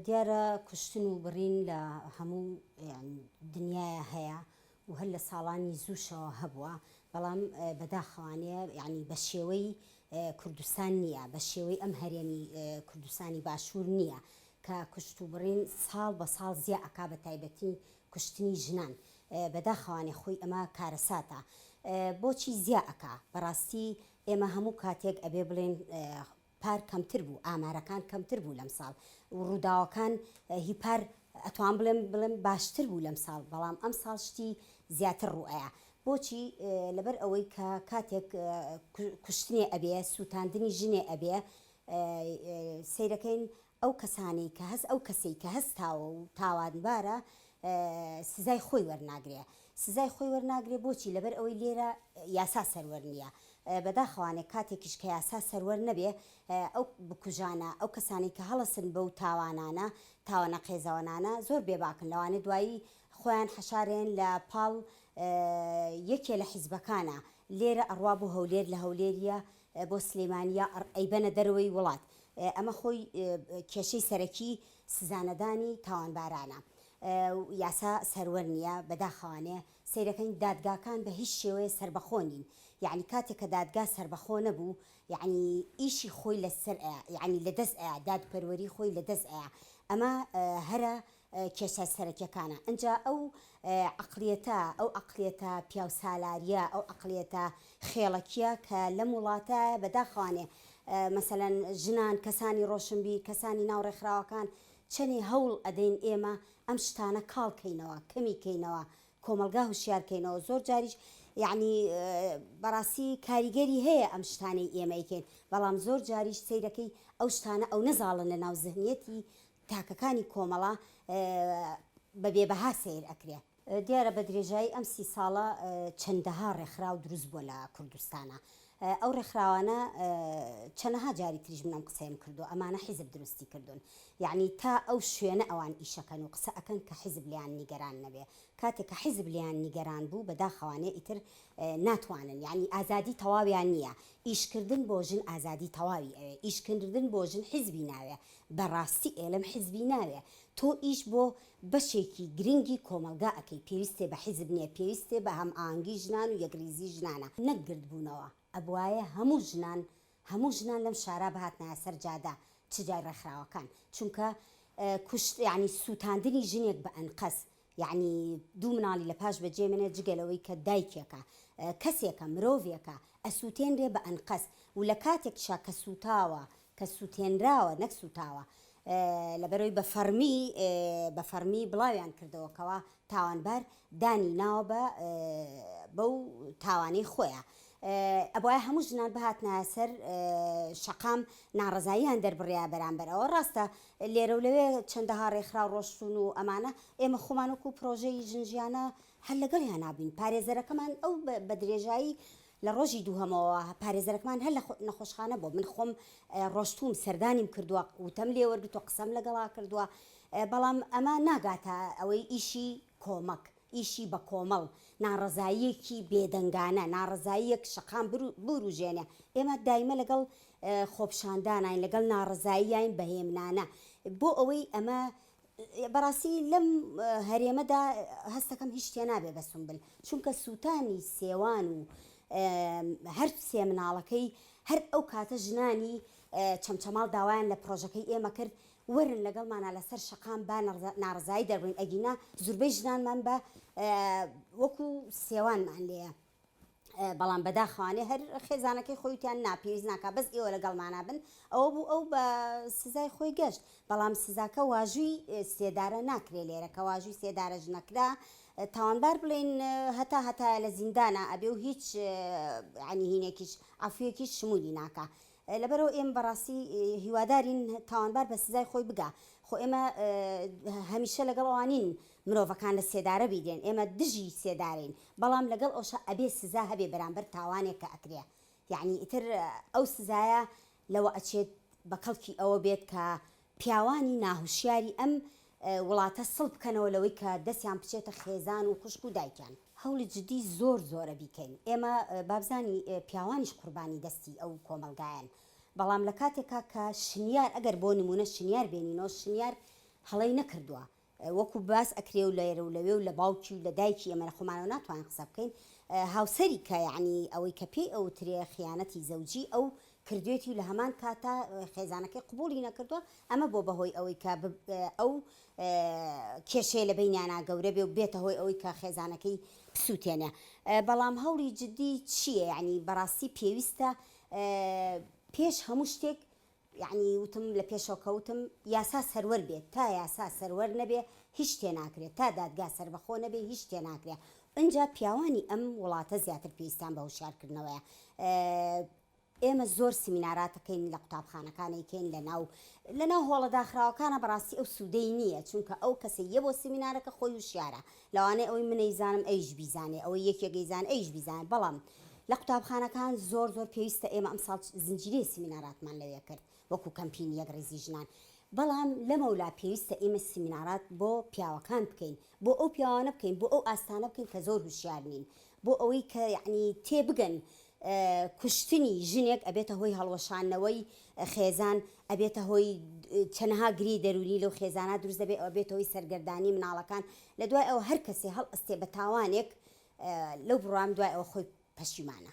دیارە کوشتن و بڕین لە هەموو دنیایا هەیە و هەر لە ساڵانی زووشەوە هەبووە، بەڵام بەداخەوانێ یانی بە شێوەی کوردستان نییە، بە شێوەی ئەم هەرێمی کوردستانی باشوور نییە کە کوشت و بڕین ساڵ بە ساڵ زیا ئەکا بە تایبەتی کوشتنی ژنان بەداخەوانێ خۆی ئەمە کارەساتە بۆچی زیا ئەکا بەڕاستی ئێمە هەموو کاتێک ئەبێ بڵێن پار کەمتر بوو ئامارەکان کەمتر بوو لەم ساڵ و ڕووداوەکان هی پار ئەتوان بڵێم بڵێم باشتر بوو لەم ساڵ بەڵام ئەم ساڵ شتی زیاتر ڕوئەیا بۆچی لەبەر ئەوەی کە کاتێک کوشتنێ ئەبێ سووتاندنی ژنێ ئەبێ سیرەکەین ئەو کەسانەی کە هەست ئەو کەسەی کە هەستاوە و تاوانبارە سزای خۆی وەرناگرێ سزای خۆی وەرناگرێ بۆچی لەبەر ئەوەی لێرە یاسا سەروەر نییە بەداخەوانێ کاتێکیش کە یاسا سەروەر نەبێ ئەو بکوژانە ئەو کەسانی کە هەڵەسن بەو تاوانانە تاوانە قێزەوەنانە زۆر بێباکن لەوانێ دوایی خۆیان حەشارێن لە پاڵ یەکێ لە حیزبەکانە لێرە ئەڕوا بۆ هەولێر لە هەولێریە بۆ سلیمان یا ئەڕ ئەیبەنە دەرەوەی وڵات ئەمە خۆی کێشەی سەرەکی سزانەدانی تاوانبارانە و یاسا سەروەر نیە بەداخەوانێ سەیرەکەین دادگاکان بە هیچ شێوەیە سەربەخۆ نین یەعنی کاتێ کە دادگا سەربەخۆ نەبوو یەعنی ئیشی خۆی لەسەر ئەیا یەعنی لەدەست ئەیا دادپەروەری خۆی لەدەست ئەیا ئەمە هەرە کێشە سەرەکیەکانە ئنجا ئەو عەقڵیەتە ئەو عەقڵیەتە پیاو سالاریە ئەو عەقڵیەتە خێڵەکیە کە لەم وڵاتە بەداخەوانێ مەسەلەن ژنان کەسانی ڕۆشنبیر کەسانی ناو ڕێکخراوەکان چەنێ هەوڵ ئەدەین ئێمە ئەم شتانە کاڵ کەینەوە کەمی کەینەوە کۆمەڵگا هوشیار کەینەوە زۆر جاریش یعنی بەڕاستی کاریگەری هەیە ئەم شتانەی ئێمە یکەین بەڵام زۆر جاریش سەیرەکەی ئەو شتانە ئەو نەزاڵن لە ناو زهنیەتی تاکەکانی کۆمەڵە بە بێ بەها سەیر ئەکرێ. دیارە بە درێژایی ئەم سی ساڵە چەندەها ڕێکخراو دروست بووە لە کوردستانا ئەو ڕێکخراوانە چەنەها جاری تریش من ئەم قسەیەم کردووە ئەمانە حیزب دروستی کردوون یەعنی تا ئەو شوێنە ئەوان ئیشەکەن و قسە ئەکەن کە حیزب لێیان نیگەران نەبێ کاتێک کە حیزب لێیان نیگەران بوو بەداخەوانێ ئیتر ناتوانن یەعنی ئازادی تەواویان نییە ئیشکردن بۆ ژن ئازادی تەواوی ئەوێ ئیشکردن بۆ ژن حیزبی ناوێ بەڕاستی ئێلم حیزبی ناوێ تۆ ئیش بۆ بەشێکی گرنگی کۆمەڵگا ئەکەی پێویستێ بە حیزب نیە پێویستێ بە هەم ئاهەنگی ژنان و یەکریزی ژنانە نەک گردبوونەوە ئەبوایە هەموو ژنان هەموو ژنان لەم شارا بهاتنایە سەر جادە چ جای ڕێکخراوەکان چونکە کوشت یانی سووتاندنی ژنێک بە ئەنقەست یەعنی دوو مناڵی لە پاش بەجێ مێنێ جگە لەوەی کە دایکێکە کەسێکە مرۆڤێکە ئەسوتێنرێ بە ئەنقەست و لە کاتێکتشا کە سوتاوە کە سوتێنراوە نەک سوتاوە لەبەرەوەی بە فەڕمی بە فەڕمی بڵاویان کردەوە کەوا تاوانبار دانی ناوە بە بەو تاوانەی خۆیە ئەبواە هەموو ژنان بهاتنە سەر شەقام ناڕزاییان دەربڕیا بەرامبەر ئەوە ڕاستە لێرەولەوێ چەندەها رێکخراو رۆشتوون و ئەمانە ئێمە خۆمان وەکو پرۆژەی ژن ژیانە هەر لەگەڵیانا بووین. پارێزەرەکەمان ئەو بە درێژایی لە رۆژی دووهەمەوە پارێزەرەکەمان هەر لە نەخۆشخانە بووە. من خۆم رۆشتووم سەردانیم کردووە، وتەم لێ وەرگرتووە، قسەم لەگەڵا کردووە، بەڵام ئەمە ناگاتە ئەوەی ئیشی کۆمەک. ئیشی بە کۆمەڵ، ناڕەزاییەکی بێدەنگانە، ناڕەزاییەک شەقام بوروژێنێ، ئێمە دایمە لەگەڵ خۆپشانداناین، لەگەڵ ناڕەزاییاین بەهێمنانە، بۆ ئەوەی ئەمە، بەڕاستی لەم هەرێمەدا هەستەکەم هیچ شتێ نابێ بە سونبل، چونکە سوتانی سێوان و هەر سێ مناڵەکەی هەر ئەو کاتە ژنانی چەمچەماڵ داوایان لە پڕۆژەکەی ئێمە کرد، وەرن لەگەڵمانا لەسەر شەقام با ناڕەزایی دەربڕین ئەگینا زوربەی ژنانمان بە وەکو سێوانمان لێیە بەڵام بەداخوانێ هەر خێزانەکەی خۆیتیان ناپێویست ناکە بەس ئێوە لەگەڵمانە بن ئەوە بوو ئەو بە سزای خۆی گەشت بەڵام سزاکە واژووی سێدارە ناکرێ لێرە کە واژووی سێدارەش نەکرا تاوانبار بڵێن هەتا هەتایە لە زیندانە ئەبێ و هیچ عنی هینێکیش عفویەکیش شمولی ناکە لەبەرئەوە ئێمە بەڕاستی هیوادارین تاوانبار بە سزای خۆی بگا خۆ ئێمە هەمیشە لەگەڵ ئەوان نین مرۆڤەکان لە سێدارە بیدێن ئێمە دژی سێدارەین بەڵام لەگەڵ ئەوشا ئەبێ سزا هەبێ بەرامبەر تاوانێک کە ئەکرێ یەعنی ئیتر ئەو سزایە لەوە ئەچێت بە کەڵکی ئەوە بێت کە پیاوانی ناهوشیاری ئەم وڵاتە سڵ بکەنەوە لەوەی کە دەستیان بچێتە خێزان و خوشک و دایکیان. هەوڵی جدی زۆر زۆرە بیکەین ئێمە بابزانی پیاوانیش قوربانی دەستی ئەو کۆمەڵگایەن بەڵام لەکاتێکا کە شنیار ئەگەر بۆ نمونە شنیار بێنینەوە شنیار هەڵەی نەکردوە وەکو باس ئەکرێ و لێرە و لەوێ و لە باوکی و لە دایکی ئێمە لە خۆمانەوە ناتوانین قسە بکەین هاوسەری کە یەعنی ئەوەی کە پێی ئەوترێ خیانەتی زەوجی ئەو کردوێتی و لە هەمان کاتا خێزانەکەی قبوڵی نەکردووە ئەمە بۆ بەهۆی ئەوەی کە ئەو کێشەیە لە بینیانا گەورە بێ و بێتە هۆی ئەوەی کە خێزانەکەی بسووتێنێ بەڵام هەوڵی جددی چییە یعنی بەڕاستی پێویستە پێش هەموو شتێک یەعنی وتم لە پێشەوە کەوتم یاسا سەروەر بێت تا یاسا سەروەر نەبێ هیچ شتێ ناکرێ تا دادگا سەربەخۆ نەبێ هیچ شتێ ناکرێ ئنجا پیاوانی ئەم وڵاتە زیاتر پێویستیان بە هوشیار کردنەوەیە ئێمە زۆر سمیناراتەکەین لە قوتابخانەکانێکەین لە ناو لە ناو هۆڵە داخراوەکانە بەڕاستی ئەو سوودەی نییە چونکە ئەو کەسە یە بۆ سمینارەکە خۆی وشیارە لەوانەیە ئەوەی من ئەیزانم ئەویش بیزانێ، ئەوەی یەکێک ئەیزانێ ئەویش بیزانێ، بەڵام لە قوتابخانەکان زۆر زۆر پێویستە، ئێمە ئەمساڵ زنجیرەی سیمیناراتمان لەوێ کرد وەکو کەمپینی یەکڕیزی ژنان، بەڵام لەمەولا پێویستە ئێمە سیمینارات بۆ پیاوەکان بکەین، بۆ ئەو پیاوانە بکەین، بۆ ئەو ئاستانە بکەین کە زۆر هوشیار نین، بۆ ئەوەی کە یەعنی تێبگەن کوشتنی ژنێک ئەبێتە هۆی هەڵوەشاندنەوەی خێزان، ئەبێتە هۆی چەنەها گری دەروونی لەو خێزانە دروست دەبێت، ئەوە بێتە هۆی سەرگەردانی مناڵەکان، لە دوای ئەوە هەر کەسێ هەڵئەستێ بە تاوانێک لەو بڕوام دوای ئەوە خۆی پەشیمانە.